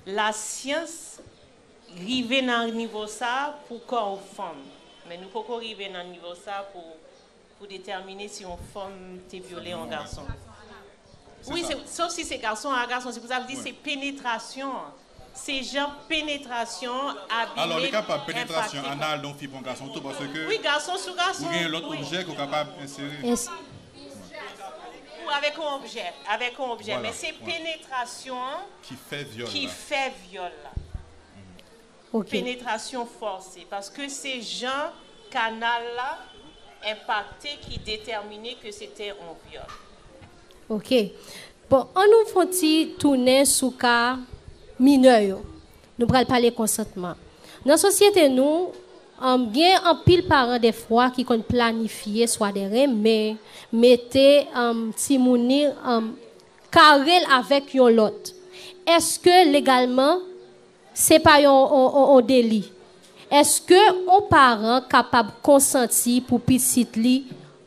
Lasyans rive nan nivo sa pou kò yon fanm, men nou poko rive nan nivo sa pou pou detèmine si yon fanm te vyole yon gason. Wi, se sof si se gason a gason, se pou sa m di se penetrasyon an. Se jan penetrasyon an abime, enpakte. Alò li kapab penetrasyon anal yon fi pou yon gason tou paske. Wi, gason sou gason. Ou gen lòt objè ke w kapab ensere. Ou avèk yon objè, avèk yon objè, men se penetrasyon an. Ki fè vyòl la. Ki fè vyòl la. Ok. Penetrasyon fòse, paske se jan kanal la enpakte ki detèmine ke se te on vyòl. Ok. Bon, an nou fon ti tounen sou ka minè yo. Nou pral pale konsantman. Nan sosyete nou, gen anpil paran dèfwa ki konn planifye swa dè renmen, mete timoun ni Kare l avèk yon lòt. Èske legalman se pa yon deli? Èske yon paran kapab konsanti pou pitit li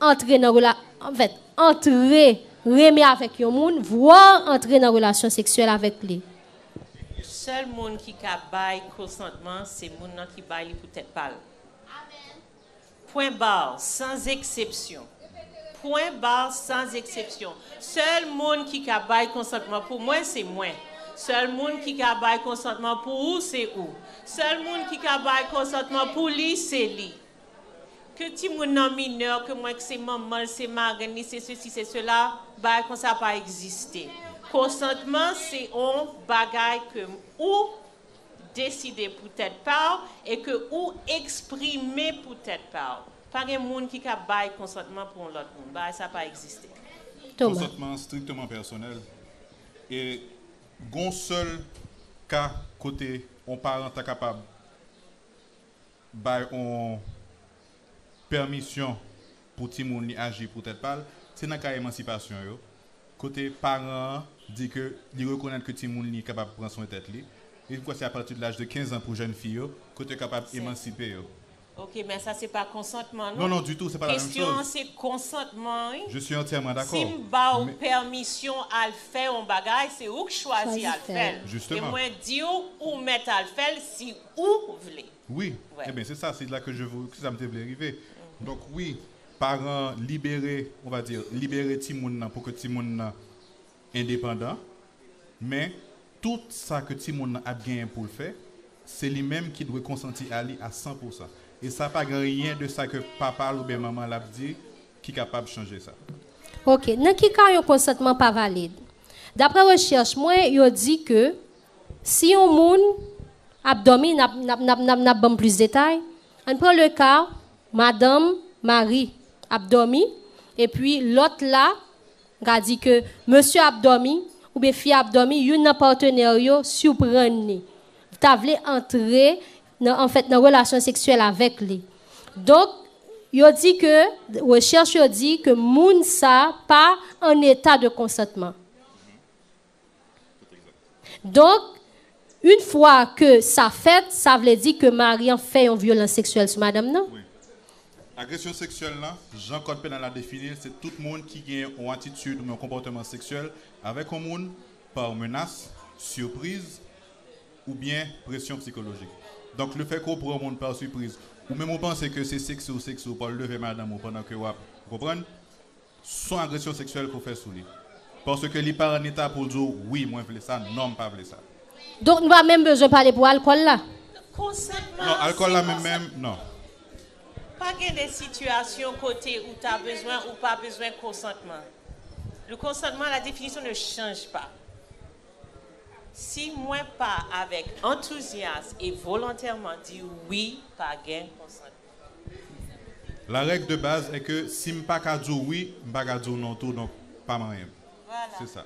antre nan rela, anfèt, antre, renmen avèk yon moun, vwa antre nan relasyon seksyèl avèk li? Sèl moun ki ka bay kosantman se moun nan ki bay li pou tèt pa l. Pwen bar, sans eksepsyon. Pwen bar, sans eksepsyon. Sèl moun ki ka bay konsantman pou mwen, se mwen. Sèl moun ki ka bay konsantman pou ou, se ou. Sèl moun ki ka bay konsantman pou li, se li. Ke timoun nan minè, ke mwen k se manman l, se marenn li, se sesi, se sela, bagay konsa pa egziste. Konsantman se on bagay ke ou deside pou tèt pa w e ke ou eksprime pou tèt pa w. Pa gen moun ki ka bay konsantman pou yon lòt moun. Bagay sa pa egziste. Toma. Konsantman an strikteman pèsonèl e gen yon sèl ka kote yon paran ta kapab bay on pèmisyon pou timoun li aji pou tèt pa l, se nan ka emansipasyon yo, kote paran an di ke li rekonèt ke timoun li kapab pran swen tèt li, e m kwè se apati de laj de 15 an pou jèn fi yo, kote yo kapab emansipe yo. Ok, men sa se pa konsantman non. Non, non, ditou, se pa la menm choz. Kesyon an se konsantman wi. Je suis entièrement d'accord. Si m ba w pèmisyon al fè on bagay, se ou k chwazi al fè l. Justement. E mwen di w, ou mèt al fè l si ou vle. Wi, e ben se sa, se la ke je vou, se sa m te vle rive. Donk wi, paran an libere, on va dire, libere timoun nan pou ke timoun nan endepandan, men tout sa ke timoun nan ap genyen pou l fè, se li menm ki dwe konsanti a li a san pousan. E sa pa gen anyen de sa ke papa l ouben manman l ap di ki kapab chanje sa. Ok, nan ki ka yon konsantman pa valid? Daprè rechèch mwen, yo di ke Si yon moun ap dòmi, n ap n ap n ap n ap ban m plis detay. Ann pran le ka madanm, mari, ap dòmi epi lòt la, m ka di ke mesye ap dòmi oubyen fi a ap dòmi, youn nan patenè yo siprann li, ta vle antre nan anfèt nan relasyon seksyèl avèk li. Donk, yo di ke, rechèch yo di ke moun sa pa an eta de konsantman. Donk, yn fwa ke sa fèt, sa vle di ke mari an fè yon vyolans seksyèl sou madanm nan? Wi. Agresyon seksyèl lan, jan kòd penal la defini l, se tout moun ki gen yon atitid oubyen yon konpòteman seksyèl avèk yon moun pa menas, sipriz, oubyen presyon psikolojik. Donk, le fè ke w pran yon moun pa sipriz, ou menm ou panse ke se sekse ou sekse ou pa w leve madanm ou pandan ke w ap, ou konprann? son agresyon seksyèl ke w fè sou li paske li pa an eta pou l di w wi mwen vle sa non m pa vle sa. Donk nou pa menm bezwen pale pou alkòl la? Konsantman an se konsantman non. Pa gen de sitiyasyon kote ou ta bezwen ou pa bezwen konsantman. Le consentement la définition ne change pas. Si mwen pa avèk antouzyas e volontèman di wi pa gen konsantman. La règle de base est que si m pa ka di w wi, m pa ka di w non tou donk pa manyen m. Se sa.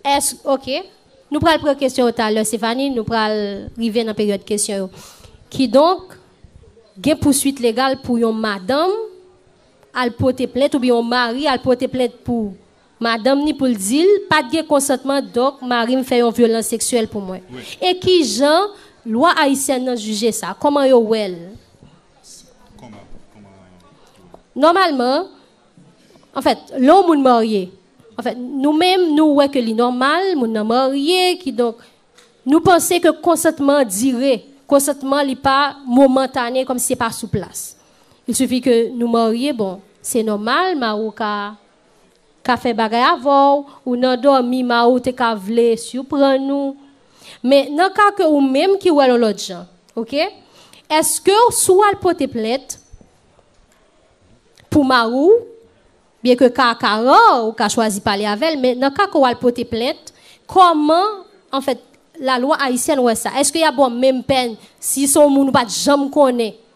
Èske, ok. Nou pral pran kesyon yo talè Stéphanie, nou pral rive nan peryòd kesyon yo. Kidonk, gen pouswit legal pou yon madanm al pote plent oubyen yon mari al pote plent pou Madanm ni poul dil pat gen konsantman donk marim fè yon vyolans seksyèl pou mwen e kijan lwa ayisyèn nan jije sa kòman yo wèl nòmalman anfèt lè yon moun marye anfèt nou menm nou wè ke li nòmal moun nan marye kidonk nou panse ke konsantman dire konsantman li pa momantane kòmsi se pa sou plas il sifi ke nou marye bon se nòmal mari w ka ka fè bagay avè'w, ou nan dòmi mari'w te ka vle surprann ou, men nan ka ke ou menm ki wè'l yon lòt jan, ok, èske'w si wal pote plent pou mari'w, byen ke ka a ka rare, ou ka chwazi pale avè'l, men nan ka ke wal pote plent, kòman, an fèt, la lwa ayisyèn wè sa, èske yap baw menm pèn si se yon moun ou pat janm konnen,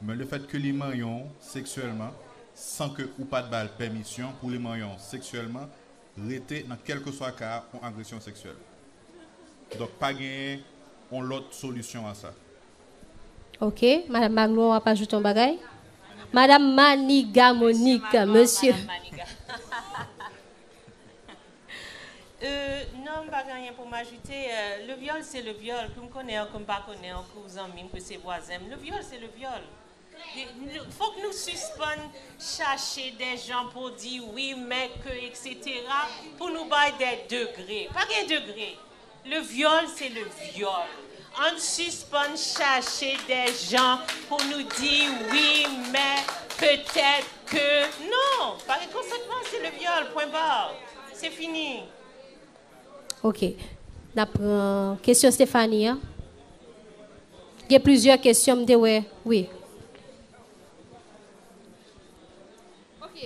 Men le fèt ke li manyen w seksyèlman san ke ou pat ba l pèmisyon pou li manyen w seksyèlman rete nan kèlkeswa ka a on agresyon seksyèl. Donk pa genyen on lòt solisyon a sa. Ok, Madam Magno wap ajoute on bagay? Madam Maniga Monique, Mesye. Humm non m pa gen anyen pou m ajoute, le vyòl se le vyòl ke m konnen an ke m pa konnen an ke w zanmi m ke se vwazen m le vyòl se le vyòl fòk nou sispann chache dè jan pou di wi men ke eksetera pou nou bay dè degre pa gen degre Le vyòl se le vyòl ann sispann chache dè jan pou nou di wi mè petèt ke non pa gen konsantman se le vyòl pwen bar se fini. Ok nap pran kesyon Stéphanie an gen plizyè kesyon m te wè wi. Ok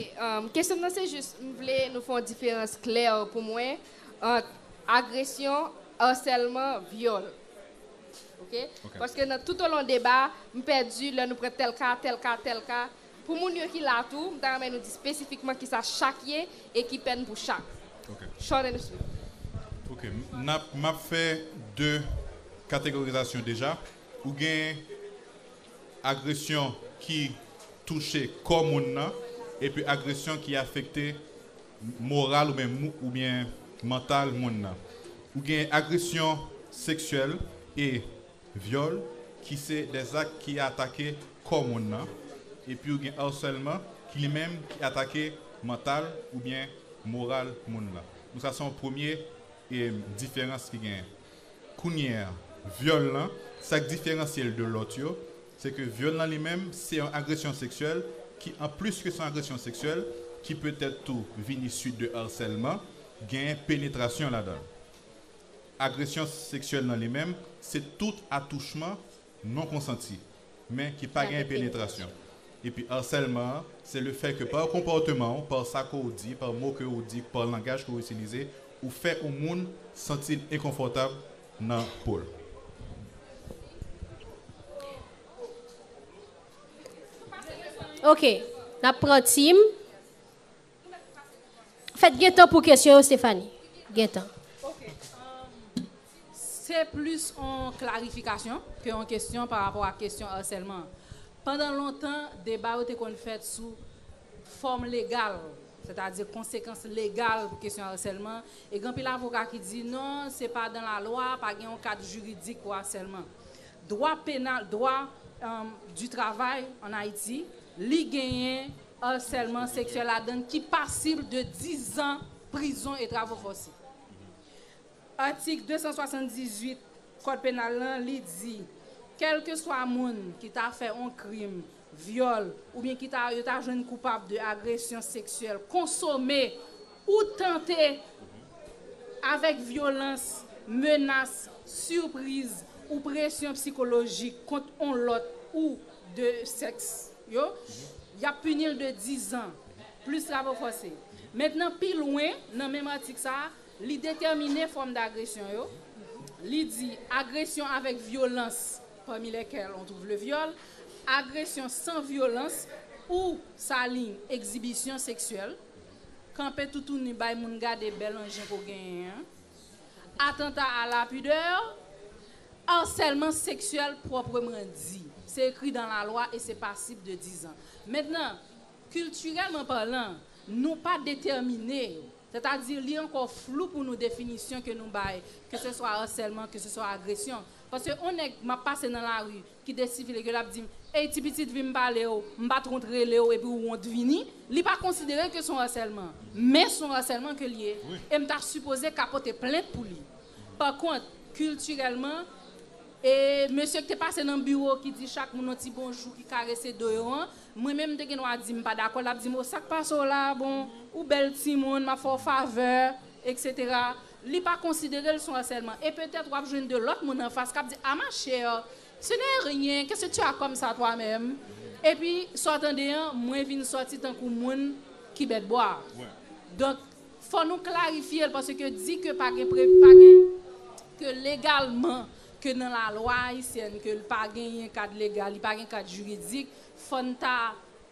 kesyon m nan se jis m vle nou fè yon diferans klè pou mwen ant agresyon, arsèlman, vyòl ok paske nan tout olon deba m pèdi lè nou pran tèl ka, tèl ka, tèl ka pou moun yo ki la tou m ta renmen nou di spesifikman kisa chak ye e ki pèn pou chak short and sweet. Ok map fè 2 kategorizasyon deja ou gen. agresyon ki touche kò moun nan epi agresyon ki afekte moral oubyen oubyen mantal moun nan. Ou gen agresyon seksyèl e vyòl ki se de zak ki atake kò moun nan epi ou gen arsèlman ki li menm ki atake mantal oubyen moral moun nan. Donk sa se yon premye diferans ki genyen. Kounye a, vyòl lan, sa k diferansye l de lòt yo, se ke vyòl lan li menm, se yon agresyon seksyèl ki an plis ke se yon agresyon seksyèl, ki petèt tou vini suit de arsèlman, genyen penetrasyon ladan l. Agresyon seksyèl lan li menm, se tout atouchman non konsanti, men ki pa gen penetrasyon. Epi arsèlman an, se le fè ke par konporteman ou, par sa ke ou di, par mo ke ou di, par langaj ke ou itilize, ou fè ou moun santi l enkonfortab nan po l. Ok, n ap pran Tim. Fèt gen tan pou kesyon yo Stéphanie. Gen tan. Ok. Se plis on klarifikasyon ke on kesyon pa rapò ak kesyon arsèlman an. Pandan lontan, deba yo te konn fèt sou fòm legal, sètadi konsekans legal pou kesyon arsèlman, e gen anpil avoka ki di non, se pa dan la lwa, pa gen on kad jiridik pou arsèlman. Dwa penal, dwa du travay an Ayiti, li genyen Harsèlman seksyèl ladann ki pasib de 10 zan prizon e travo fòse. Atik 278 kòd penal lan li di kèlkeswa moun ki ta fè on krim vyòl oubyen ki ta yo ta jwenn koupab de agresyon seksyèl konsome Ou tante avèk vyolans, menas, sipriz, ou presyon psikolojik kont on lòt ou de sèks yo, y ap pini l de dizan, plis travo fòse. Mentnan pi lwen nan menm atik sa a, li detèmine fòm dagresyon yo, li di, agresyon avèk vyolans, pami lèkèl on twouv le vyòl, agresyon san vyolans ou sa liy egzibisyon seksyèl, Kanpe toutouni bay moun gade bèl anjen ke w genyen an. Atanta a la pudeur. Harsèlman seksyèl pwopreman di. Se ekri dan la lwa e se pasib de dizan. Mentnan, kiltirèlman palan, nou pa detèmine, sètadi li ankò flou pou nou definisyon ke nou bay keseswa harsèlman, keseswa agresyon. Paske on nèg m ap pase nan lari, ki de sivil eke lap dim ey ti pitit vim palew m pat ront relew epi ou ront vini li pa konsidere ke son asèlman men son asèlman ke liye em ta sipoze ka pote plent pou li pa kont kiltirèlman e mesye ki te pase nan biwo ki di chak moun yon ti bonjou ki karese do yo an mwen menm m te gen dwa dim m pa dakò lap dim o sak pasew la bon ou bèl timoun map fèw favè eksetera li pa konsidere l s on asèlman e petèt w ap jwenn 2 lòt moun anfas k ap di a ma chère ce n'est rien qu'est ce que tu as comme ça toi même epi sa w tande an mwen vin sòti tankou moun ki bèt bwa a donk fò nou klarifye l paske di ke pa gen pre pa gen ke legalman ke nan lalwa ayisyèn ke l pa genyen kad legal li pa gen kad jiridik fò n ta.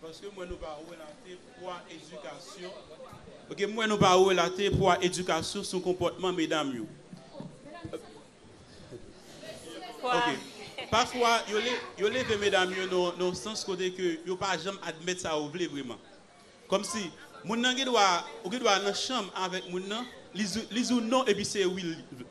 Paske m wè nou pa relate pwa edikasyon. Paske m wè nou pa relate pwa edikasyon sou konpòtman medam yo. Ok. Pafwa yo leve medam yo nan yon sans kote ke yo pa janm admèt sa yo vle vreman. Kòmsi moun nan gen dwa, ou gen dwa nan chanm avèk moun nan, li di w non epi se wi l vle.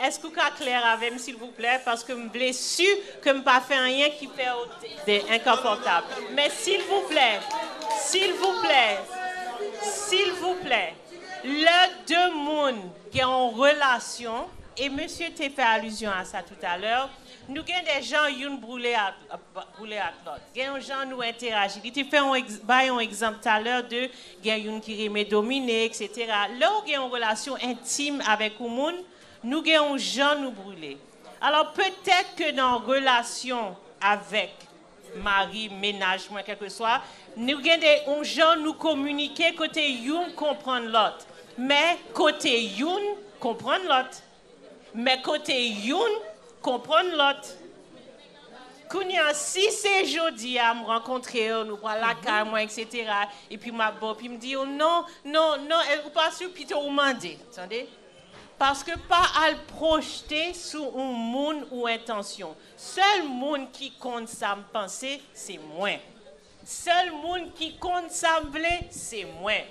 Eske ou ka klè avèm silvouplè paske m vle su ke m pa fè anyen ki fèw de enkanfòtab men silvouplè silvouplè silvouplè lè de moun gen on relasyon e mesye te fè alizyon a sa toutalè nou gen de jan youn boule ak boule ak lòt gen on jan nou enteraji li te fè on bay on egzanp talè de Gen youn ki renmen domine, eksetera. Lè ou gen yon relasyon entim avèk yon moun, nou gen yon jan nou brile. Alò, petèt ke nan relasyon avèk mari m, mennaj mwen, kèlkeswa, nou gen de yon jan nou kominike kote youn konprann lòt. Men, kote youn konprann lòt. Men kote youn konprann lòt. Kounye a, si se jodi a m rankontre w, nou pral lakay mwen eksetera, epi m ap ba w, epi m di w, non, non, non, èske ou pa si w, pito ou mande, tande. Paske pa al pwojte sou yon moun ou entansyon. Sèl moun ki konn sa m panse, se mwen. Sèl moun ki konn sa m vle, se mwen.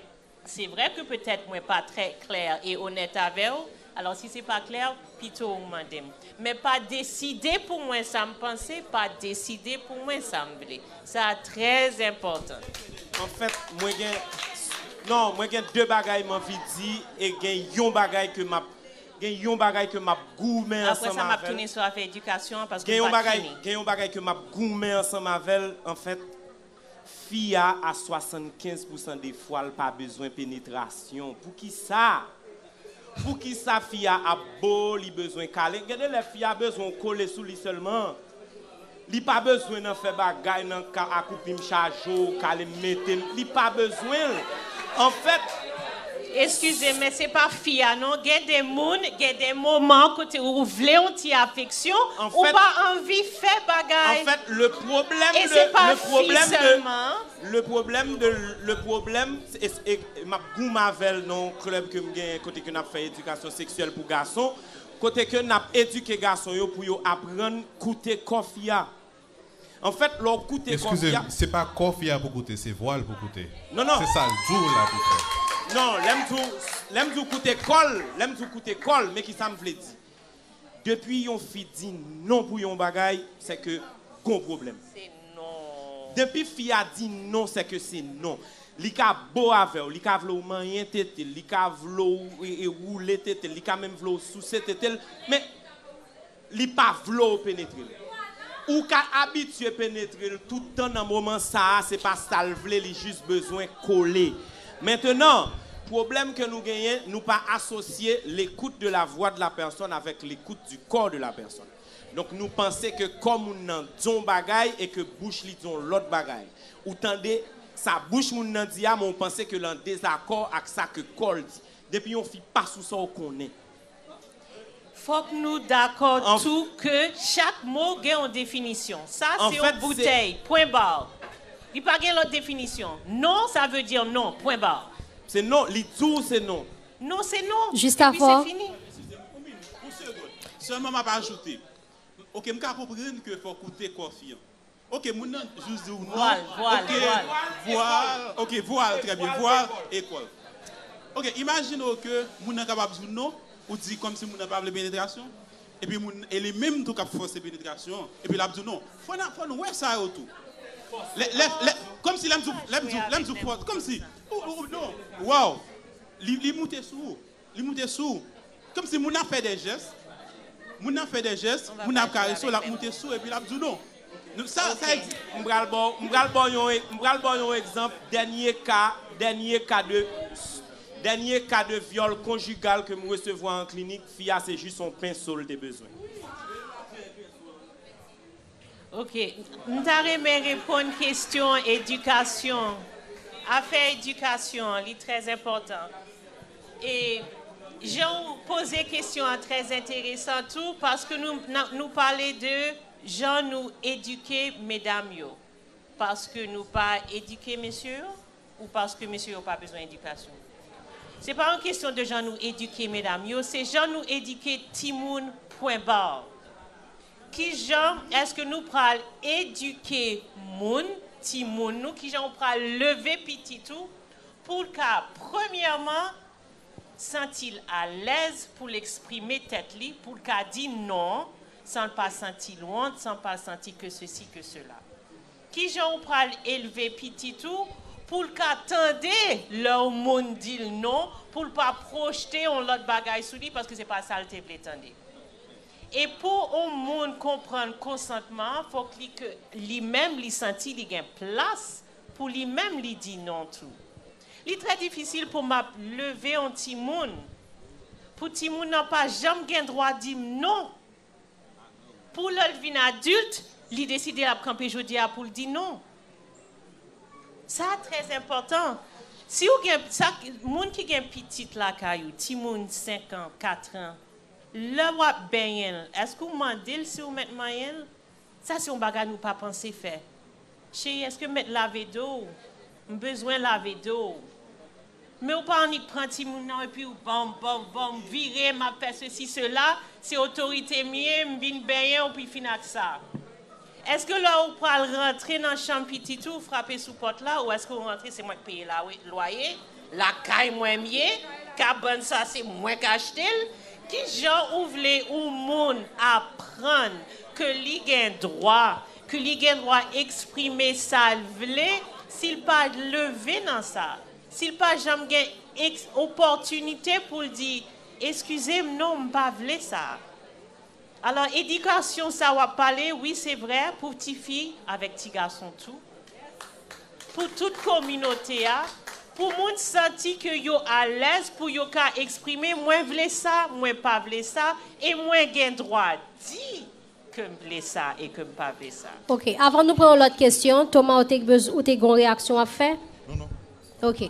Se vrè ke petèt mwen pa trè klè e onèt avè w, alò si se pa klè, pito ou mande m. Men pa deside pou mwen sa m panse, pa deside pou mwen sa m vle. Sa a trè enpòtan. Anfèt, mwen gen, non, mwen gen de bagay m anvi di e gen yon bagay ke m ap, gen yon bagay ke m ap goumen ansanm avè l. Apre sa m ap tounen sou afè edikasyon an paske m pa t fini. Gen yon bagay ke m ap goumen ansanm avè l, anfèt. Fi a a 75 pousan de fwa l pa bezwen penetrasyon poukisa? Poukisa fi a ap bo li bezwen kale gen de lè fi a bezwen w kole sou li sèlman li pa bezwen nan fè bagay nan ka akoupi m chaje w kale m mete m li pa bezwen l anfèt Eskize men se pa fi a non gen de moun gen de moman kote ou vle yon ti afeksyon ou pa anvi fè bagay e se pa fi sèlman. Le problème de le problème map goum avèl nan yon club ke m genyen kote ke nap fè edikasyon seksyèl pou gason kote ke nap edike gason yo pou yo aprann koute kò fi a. Anfèt lè w koute kò fi a. Eskize m, se pa kò fi a pou koute, se vwa l pou koute. Se sa l di w la pou fè. Non, lè m di w, lè m di w koute kò l, lè m di w koute kò l, men ki sa m vle di. Depi yon fi di non pou yon bagay, se ke gon pwoblèm. Depi fi a di non, se ke se non. Li ka bo avè w, li ka vle w manyen tete l, li ka vle w woule tete l, li ka menm vle w souse tete l, men Li pa vle w penetre l. Ou ka abitye penetre l tout tan nan moman sa a se pa sa l vle li jis bezwen kole. Mentenan, pwoblèm ke nou genyen nou pa asosye l'écoute de la voix de la personne avec l'écoute du corps de la personne. Donk nou panse ke kò moun nan di yon bagay e ke bouch li di yon lòt bagay. Ou tande sa bouch moun nan di a men ou panse ke l an dezakò ak sa ke kò l di. Depi yon fi pa sou sa w konnen. Fòk nou dakò tou ke chak mo gen yon definisyon. Sa se yon boutèy, pwen bar. Li pa gen lòt definisyon. Non sa vle di non, pwen bar. Se non, li di w se non. Non se non, epi se fini. Ekskuze mwen, yon segond. Sèlman m ap ajoute. Ok, m ka konprann ke fòk ou te kòfyan. Ok moun nan jus di w non. Vwal, vwal, vwal. Vwal, ok vwal trè byen vwal e kòl. Ok imajine w ke moun nan kapab di w non, ou di kòm si moun nan pa vle penetrasyon, epi moun e li menm tou kap fòse penetrasyon an, epi lap di w non. Fò nan fò n wè sa yo tou. Lè lè lè kòm si lè m di w lè m di w lè m di w fò kòm si ou ou non waw li li moute sou ou. Li moute sou ou. Kòmsi moun nan ap fè dè jès, moun nan ap fè dè jès, moun nan ap karese w, l ap moute sou ou epi l ap di w non. Sa, sa egzi. M pral ba w, m pral ba w yon, m pral ba w yon egzanp dènye ka, dènye ka de, dènye ka de vyòl konjigal ke m resevwa an klinik, fi a se jis yon penso l te bezwen. Ok m ta renmen reponn kesyon edikasyon afè edikasyon an li trè enpòtan e jan ou poze kesyon an trè enteresan tou paske nou pale de jan nou edike medam yo paske nou pa edike mesye yo ou paske mesye yo pa bezwen edikasyon se pa yon kesyon de jan nou edike medam yo se jan nou edike timoun pwen bar Kijan eske nou pral edike moun, timoun nou, kijan ou pral leve pitit ou pou l ka premyèman santi l alèz pou l eksprime tèt li, pou l ka di non san l pa santi l wont, san l pa santi ke sesi ke sela. Kijan ou pral elve pitit ou pou l ka tande lè yon moun di l non, pou l pa pwojte yon lòt bagay sou li paske se pa sa l te vle tande. E pou on moun konprann konsantman an fòk li ke li menm li santi li gen plas pou li menm li di non tou. Li trè difisil pou map leve on timoun pou timoun nan pa janm gen dwa dim non pou lè l vin adilt li deside lap kanpe jodi a pou l di non. Sa trè enpòtan. Si ou gen, sa moun ki gen pitit lakay ou, timoun 5 an, 4 an, Lè w ap benyen l, èske ou mande l si ou mèt manyen l? Sa se yon bagay nou pa panse fè. Cheri, èske m mèt lave do w? M bezwen lave do w. Men ou pa annik pran timoun nan epi ou ban m, ban m, ban m, vire m ap fè sesi sela, se otorite m ye, m vin benyen w pi fin ak sa. Eske lè ou pral rantre nan chanm pitit ou frape sou pòt la ou eske ou rantre se mwen k peye lwaye lakay mwen m ye kabann sa se mwen k achte l kijan ou vle ou moun aprann ke li gen dwa ke li gen dwa eksprime sa l vle si l pa leve nan sa si l pa janm gen opòtinite pou l di eskize m non m pa vle sa. Alò edikasyon sa wap pale wi se vrè pou ti fi avèk ti gason tou pou tout kominote a pou moun santi ke yo alèz pou yo ka eksprime mwen vle sa mwen pa vle sa e mwen gen dwa di kem vle sa e kem pa vle sa. Ok avan nou pran yon lòt kesyon Toma ou te ou te gen yon reyaksyon wap fè? Non non. Ok.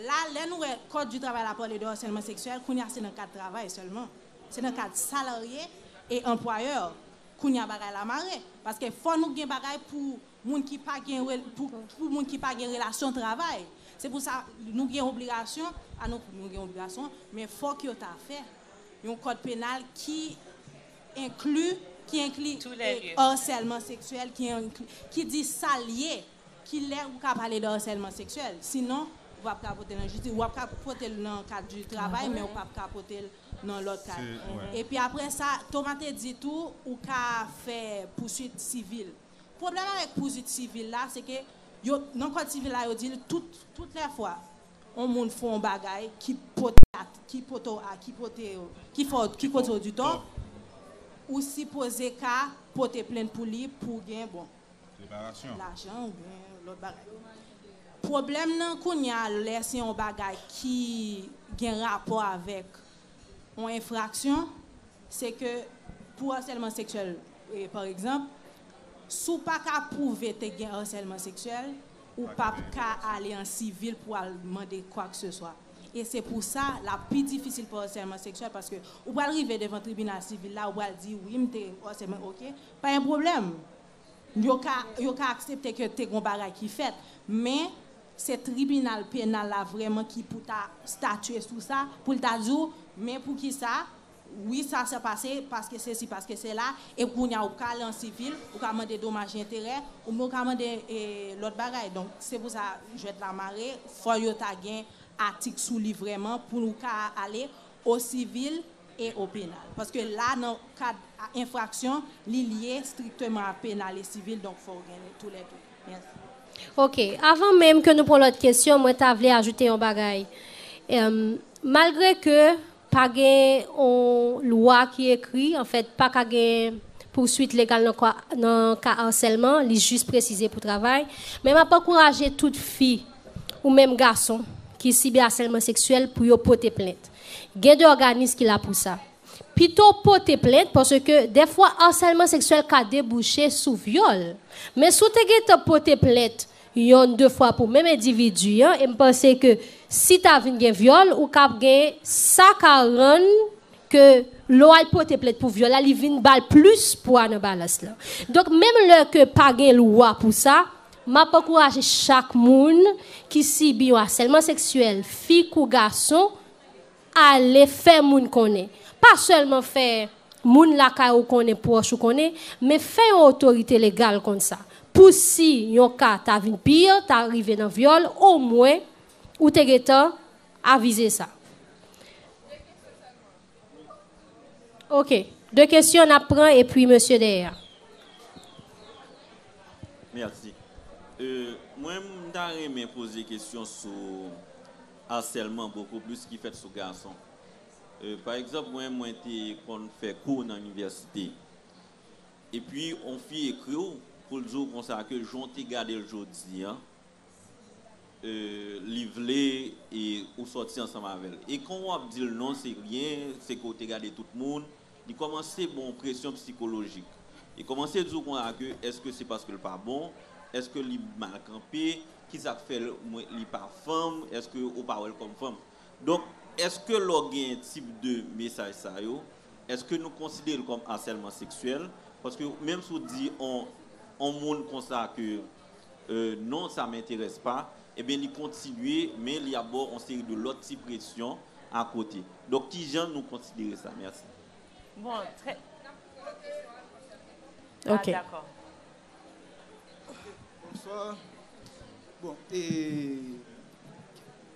La, lè nou wè Kòd di travay la pale de harcèlement sexuel, kounye a se nan kad travay sèlman. Se nan kad salarye e anpwayè, kounye a bagay la mare. Paske fò nou gen bagay pou moun ki pa gen pou moun ki pa gen relasyon travay. Se pou sa nou gen obligasyon, pa nou pou nou gen obligasyon, men fòk yo ta fè yon kòd penal ki enkli, ki enkli harcèlement sexuel, ki di sa l ye. Kilè ou ka pale de harcèlement sexuel? Sinon, ou pap ka pote l nan jistis. Ou ap ka pote l nan kad du travay men ou pap ka pote l nan lòt kad. Epi aprè sa, Thomas te di tou ou ka fè pouswit sivil. Pwoblèm avèk pouswit sivil la se ke yo nan kòd sivil la yo di l tout tout lè fwa on moun fè on bagay ki pote a ki pote w a ki pote yo ki fè w ki koze w ditò ou sipoze ka pote plent pou li pou w gen bon lajan ou byen lòt bagay. Pwoblèm nan kounye a lè se yon bagay ki gen rapò avèk yon enfraksyon, se ke pou asèlman seksyèl pa egzanp, si w pa ka pwouve te gen asèlman seksyèl, ou pa p ka ale an sivil pou al mande kwakseswa. E se pou sa l ap pi difisil pou asèlman seksyèl paske ou pral rive devan tribinal sivil la, ou pral di wi m te asèlman, ok. Pa gen pwoblèm. Yo ka, yo ka aksepte ke te gen yon bagay ki fèt. Men, se tribinal penal la vrèman ki pou ta statye sou sa, pou l ta di w, men pou ki sa, wi sa sa pase, paske sesi, paske sela, e kounye a ou ka ale an sivil, ou ka mande domaj enterè, oubyen ou ka mande lòt bagay. Donk, se pou sa jwèt la mare, fò yo ta gen atik sou li vrèman pou ou ka ale o sivil, e o penal. Paske la nan kad enfraksyon li lye strikteman ak penal e sivil donk fò w gen tou lè 2. Mèsi. Ok. Avan menm ke nou pran lòt kesyon mwen ta vle ajoute yon bagay. Malgre ke pa gen yon lwa ki ekri, anfèt pa ka gen pouswit legal nan ka arsèlman, li jis presize pou travay, men m ap ankouraje tout fi ou menm gason ki sibi asèlman seksyèl pou yo pote plent. Gen de òganis ki la pou sa. Pito w pote plent paske dèfwa arsèlman seksyèl ka debouche sou vyòl. Men si w te gentan pote plent yonn de fwa pou menm endividi an e m panse ke si ta vin gen vyòl ou ka gen sa ka rann ke lè w al pote plent pou vyòl la li vin ba l plis pwa nan balans lan. Donk menm lè ke pa gen lwa pou sa M ap ankouraje chak moun ki sibi yon asèlman seksyèl, fi kou gason, ale fè moun konnen. Pa sèlman fè moun lakay ou konnen, pwòch ou konnen, men fè yon otorite legal konn sa. Pou si yon ka ta vin pi, ta rive nan vyòl, omwen ou te gentan avize sa. Ok. De kesyon nap pran epi mesye dèyè a. Merci. Mwen m ta renmen poze kesyon sou harcèlement beaucoup plus ki fèt sou gason. Pa egzanp mwen mwen te konn fè kou nan inivèsite. Epi on fi ekriw poul diw konsa ke jan w te gadel jodi an. li vle e ou sòti ansanm avèl e kon ou ap dil non se ryen se ke ou te gade tout moun li kòmanse bon ou presyon psikolojik li kòmanse diw konsa ke eske se paske li pa bon eske li mal kanpe kisak fèl mwen li pa fanm eske ou pa wèl kòm fanm donk eske lè ou gen tip de mesaj sa yo eske nou konsiderel kòm asèlman seksyèl paske menm si ou di on moun konsa ke. non sa m'interesse pas, ebyen li kontinye men li ap baw on seri de lòt ti presyon a kote. Donk kijan nou konsidere sa? Merci. Bon, trè. Nap poze kesyon a François Trèfort. Ah dakò. Bonsoir. Bon, e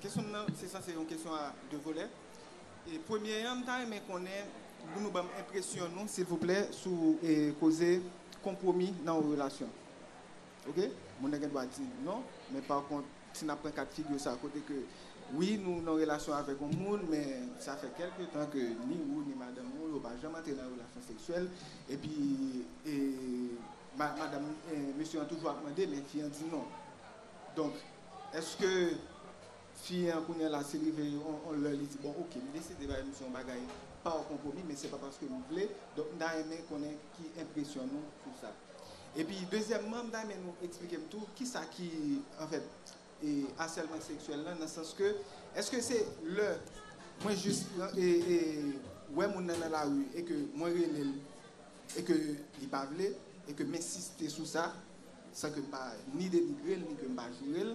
kesyon m nan se sanse yon kesyon a 2 volè. E premye an m ta renmen konnen pou nou banm enpresyon nou silvouplè sou koze konpwomi nan yon relasyon. Ok moun nan gen dwa di non men pa kont si nap pran kat figure sa kote ke wi nou nan relasyon avèk yon moun men sa fè kelke tan ke ni ou ni madanm ou yo pa janm antre nan relasyon seksyèl epi e madanm mesye an toujou ap mande men fi an di non donk eske Fi an kounya la se rive yon lè li di bon ok m deside bay misye yon bagay pa konpwomi men se pa paske m vle donk m ta renmen konnen ki enpresyon nou sou sa epi dezyèmman m ta renmen nou eksplike m tou kisa ki anfèt asèlman seksyèl lan nan sans ke èske se lè mwen jis wè moun nan nan lari e ke mwen rele l e ke li pa vle e ke m ensiste sou sa san ke m pa ni denigre l ni ke m pa joure l.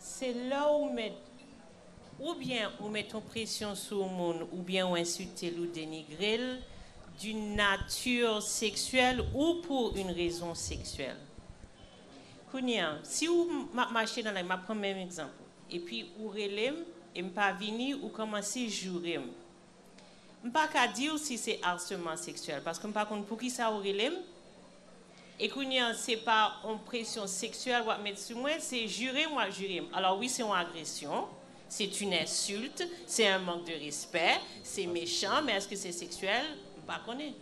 Se lè ou met oubyen ou met yon presyon sou yon moun oubyen ou ensilte l ou denigre l d'une nature sexuelle ou pour une raison sexuelle. Kounye a, si ou m ap mache nan lari, m ap pran menm egzanp ou, epi ou rele m e m pa vini, ou kòmanse joure m. M pa ka di w si se harcèlement sexuel paske m pa konn poukisa ou rele m, E kounye an se pa on presyon seksyèl wap met sou mwen, se jire m wap jire m. Alò wi se on agresyon, se t yn ensilt, se un manque de respect, se mechan men èske se seksyèl, m pa konnen.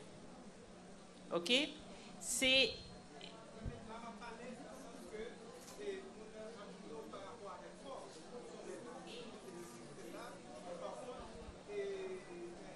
Ok. Se.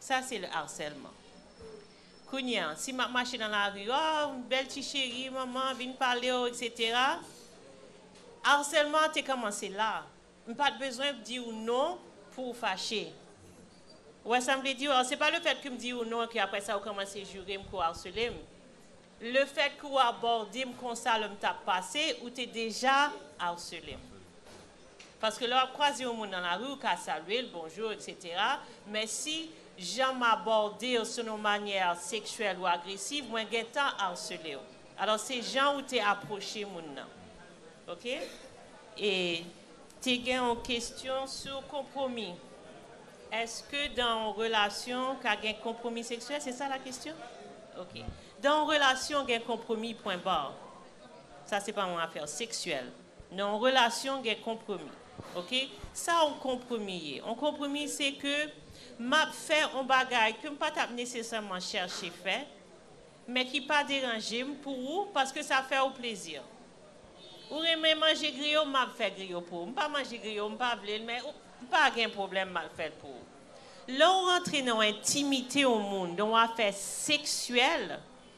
Sa se le harcèlement. Kounye a, si map mache nan lari, oh, bèl ti cheri, manman vin pale w, etc. Harcèlement an te kòmanse la. M pat bezwen di w non pou w fache. Ou wè sa m vle di w? Se pa le fèt ke m di w non ke aprè sa ou kòmanse joure m ke w harcele m. Le fèt ke ou abòde m konsa lè m tap pase, ou te deja harcele m. Paske lè wap kwaze yon moun nan lari ou ka salye l bonjour etc men si jan m abòde w son yon manyè seksyèl ou agresiv mwen gentan arsele w alò se jan ou te apwoche moun nan ok e te gen yon kestyon sou konpwomi eske dan yon relasyon ka gen konpwomi seksyèl se sa la kestyon ok dan yon relasyon gen konpwomi pwen bar sa se pa yon afè seksyèl. Nan yon relasyon gen konpromi ok sa yon konpromi ye yon konpromi se ke map fè yon bagay kem pa tap nesesèman chèche fè men ki pa deranjem pou ou paske sa fè ou plezi ou renmen manje griyo map fè griyo pou ou m pa manje griyo m pa vlel men ou pa gen pwoblèm mal fèl pou ou lè ou rantre nan yon entimite yon moun nan yon afè seksyèl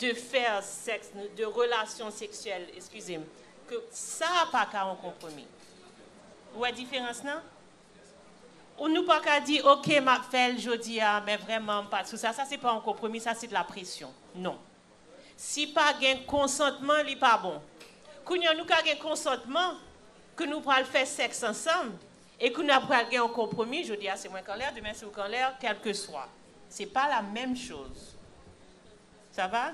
de faire sex de relasyon seksyèl eskize m ke sa pa ka yon konpwomi ou wè diferans nan ou nou pa ka di ok m ap fè l jodi a men vrèman m pa sou sa sa se pa yon konpwomi sa se de la presyon non si pa gen konsantman li pa bon kounye a nou ka gen konsantman ke nou pral fè sèks ansanm e ke nou pral gen yon konpwomi jodi a se mwen k anlè demen se ou k anlè kèlkeswa. Se pa la menm choz. Sa va?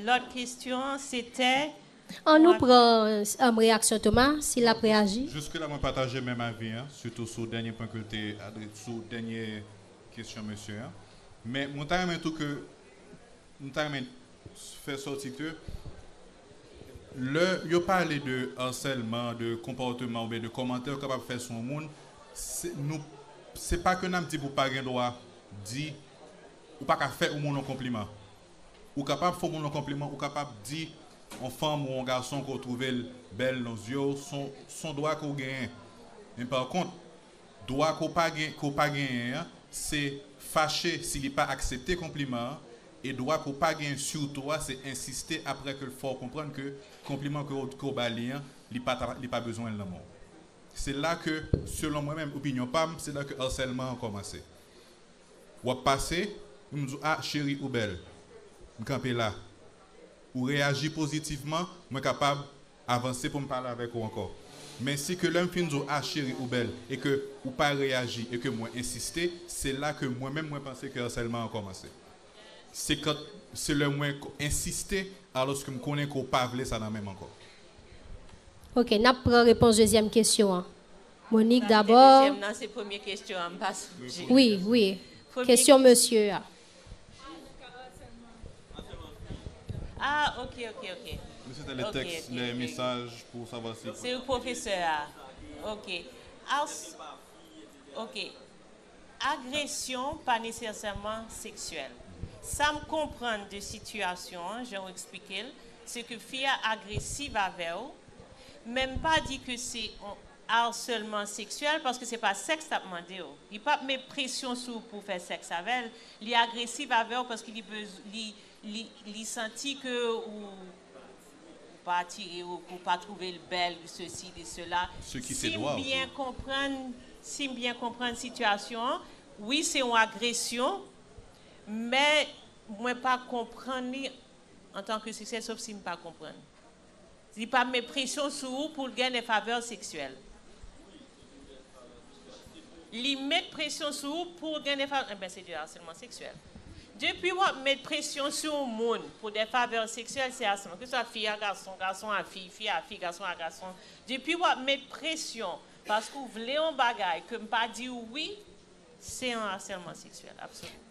Lot kestyon an se tè. An nou pran reyaksyon Toma, si l ap reyaji. Jiske la mwen pataje menm avi an, sitou sou dènye pwen ke l te adre, sou dènye kestyon mesye an. Men mwen ta renmen tou ke, m ta renmen fè sòti ke. Lè yo pale de arsèlman, de konpòteman oubyen de kòmantè yo kapab fè sou yon moun, se nou se pa ke n ap di pou pa gen dwa di ou pa ka fè yon moun yon konpliman. Ou kapab fè yon moun yon konpliman, ou kapab di yon fanm ou yon gason ke w twouve l bèl nan zye w, s on dwa ke w genyen. Men pa kont, dwa ke w pa genyen an, se fache si li pa aksepte konpliman an E dwa ke w pa genyen siw to a se ensiste apre ke l fè w konprann ke konpliman ke w ba li an, li pa ta, li pa bezwen l nan men w. Se la ke, selon mwen menm, opinyon pa m, se la ke arsèlman an kòmanse. W ap pase, pou m di w, a, cheri ou bèl, m kanpe la. Ou reyaji pozitivman, mwen kapab Avanse poum pale avèk ou ankò. Men si ke lèm fin di w ah cheri ou bèl e ke ou pa reyaji e ke mwen ensiste se la ke mwen menm mwen panse ke arsèlman an kòmanse. Se kan se lè mwen ensiste alòske m konnen ke w pa vle sa nan menm ankò. Ok nap pran repons dezyèm kesyon an. Monique Sa ki te dabò. dezyèm nan se premye kesyon an m pa sonje. Wi wi kesyon mesye a. Ah ok ok ok. Mesi te le teks le mesaj pou sava si. Se u pwofesè a ok ars ok agresyon pa nesesèman seksyèl sam konprann de sitiyasyon an jan ou eksplikel se ke fi a agresiv avèw menm pa di ke se on harcèlement sexuel paske se pa sex lap mandew li pap met presyon sou pou fè sex avèl li agresiv avèw paske li bezw li li li santi ke ou ou pa atire ou ke ou pa trouvel bèl ou sesi li sela sim byen konprann sim byen konprann sitiyasyon an wi se yon agresyon men mwen pa konprann li antanke sex sof sim pa konprann. Li pa met presyon sou ou pou l gen lè favè seksyèl. Li met presyon sou ou pou w gen lè favè. Enben se de asèlman seksyèl. Depi w ap met presyon sou yon moun pou de favè seksyèl se asèlman. Keswa fi a gason, gason a fi, fi a fi, gason a gason. Depi w ap met presyon paske w vle yon bagay ke m pa di w wi, se yon asèlman seksyèl absoliman.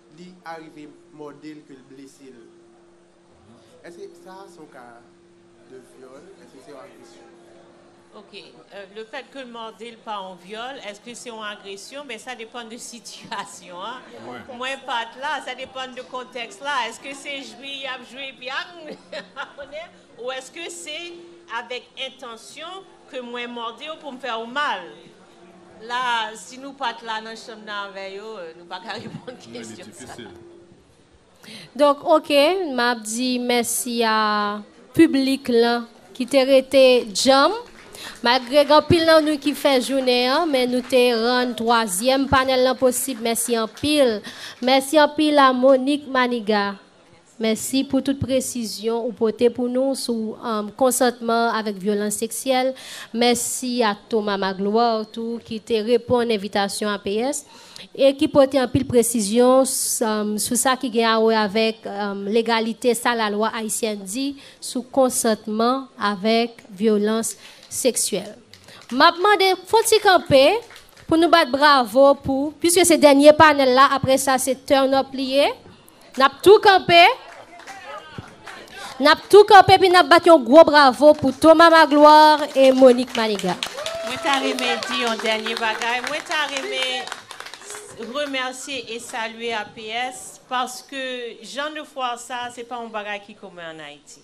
Li arive mòde l ke l blese l. Eske sa a son ka de vyòl? Eske se yon agresyon? Ok, le fèt ke l mòde l pa yon vyòl, eske se yon agresyon? Ben sa depann de sitiyasyon an. Mwen pa t la, sa depann de kontèks la. Eske se jwi y ap jwi epi agnn ou eske se avèk entansyon ke mwen mòde w pou m fè w mal? La a, si nou pa t la nan chanm nan avè yo, nou pa ka reponn kesyon sa a. Donk, oke, m ap di mèsi a piblik lan ki te rete djanm. Malgre gen anpil nan nou ki fè jounen an, men nou te rann twazyèm panèl lan posib. Mèsi anpil. Mèsi anpil a Monique Manigat. Mèsi pou tout presizyon ou pote pou nou sou konsantman avèk vyolans seksyèl. Mèsi ak Thomas Magloire tou ki te reponn envitasyon APS e ki pote anpil presizyon sou sa ki gen awè avèk legalite sa lalwa ayisyèn di sou konsantman avèk vyolans seksyèl. M ap mande fon ti kanpe pou nou bat bravo pou. Piske se dènye panèl la, apre sa se turn up li ye. N ap tou kanpe N ap tou kanpe epi n ap bat yon gwo bravo pou Thomas Magloire e Monique Manigat. Mwen ta renmen di yon dènye bagay. Mwen ta renmen remèsye e salye APS paske jan de fwar sa a se pa yon bagay ki komen an Ayiti.